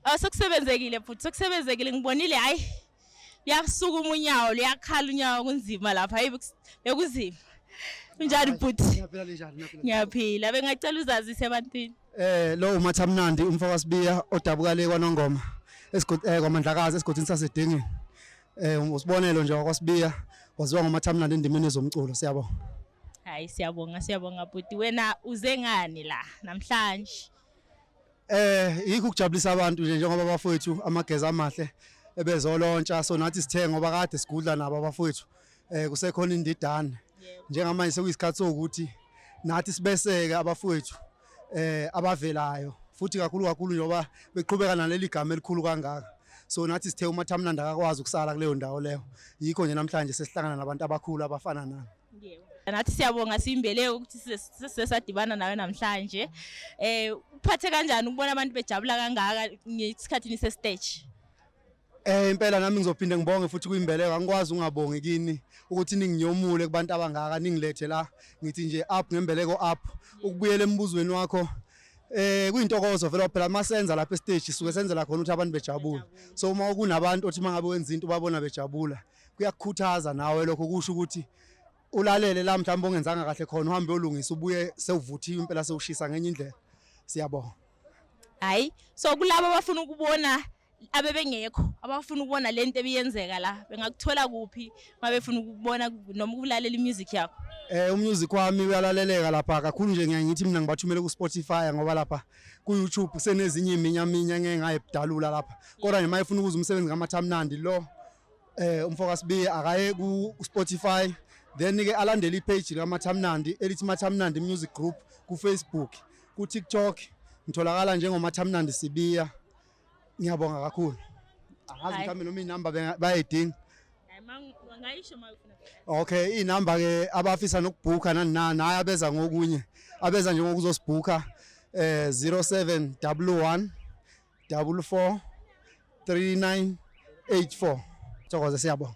Oh, sekusebenzekile futhi sekusebenzekile ngibonile hayi liyasukuma unyawo liyakhala unyawo kunzima lapha hayi bekunzima unjani bhuti ngiyaphila bengacela uzazise ebantwini eh lo umathamnandi umfaka sibiya odabuka le kwanongoma esigodi eh kwamandlakazi esigodini sasedingini Eh um, usibonelo nje wakwasibiya waziwa ngomathamnandi endimeni zomculo siyabonga. Hayi siyabonga siyabonga bhuti wena uze ngani la namhlanje. Eh yikho ukujabulisa abantu nje njengoba bafowethu amagezi amahle ebezolontsha so nathi sithe ngoba kade sigudla nabo abafowethu eh kusekhona indidane njengamanje sekuyisikhathi sokuthi nathi sibeseke abafowethu eh abavelayo futhi kakhulu kakhulu njengoba beqhubeka naleli gama elikhulu kangaka so nathi sithe uma Thamnanda akakwazi ukusala kuleyo ndawo leyo yikho nje namhlanje sesihlangana nabantu abakhulu abafana nami yebo nathi siyabonga simbeleke ukuthi sesadibana nawe namhlanje eh uphathe kanjani ukubona abantu bejabula kangaka ngesikhathi nise stage Eh impela nami ngizophinde ngibonge futhi kuyimbeleko angikwazi ungabongi kini ukuthi ninginyomule kubantu abangaka ningilethe la ngithi nje up ngembeleko up ukubuyela embuzweni wakho eh kuyintokozo vele phela masenza lapha estage suke senzela khona ukuthi abantu bejabule so uma kunabantu othi mangabe wenza into babona bejabula kuyakukhuthaza nawe lokho kusho ukuthi ulalele la mhlawumbe ongenzanga kahle khona uhambe olungisa ubuye sewuvuthiwe impela sewushisa ngenye indlela siyabonga hayi so kulabo abafuna ukubona abebengekho abafuna ukubona le nto ebiyenzeka la bengakuthola kuphi uma befuna ukubona noma ukulalela i-music yakho eh umusic wami uyalaleleka lapha kakhulu nje ngiye ngithi mina ngibathumele ku Spotify ngoba lapha ku YouTube kusenezinye iminya minya ngeke ngayibdalula lapha kodwa nje mayefuna ukuza umsebenzi kaMathamnandi lo eh umfoka sibiye akaye ku Spotify then ke alandele ipage kaMathamnandi elithi Mathamnandi Music Group ku Facebook ku TikTok ngitholakala njengoMathamnandi Sibiya Ngiyabonga kakhulu. Angazi mhlawumbe noma inamba bayayidinga. Okay, inamba ke abafisa nokubhuka nani nani hayi abeza ngokunye. Abeza nje ngokuzosibhuka eh 0711 44 3984. Thokoza siyabonga.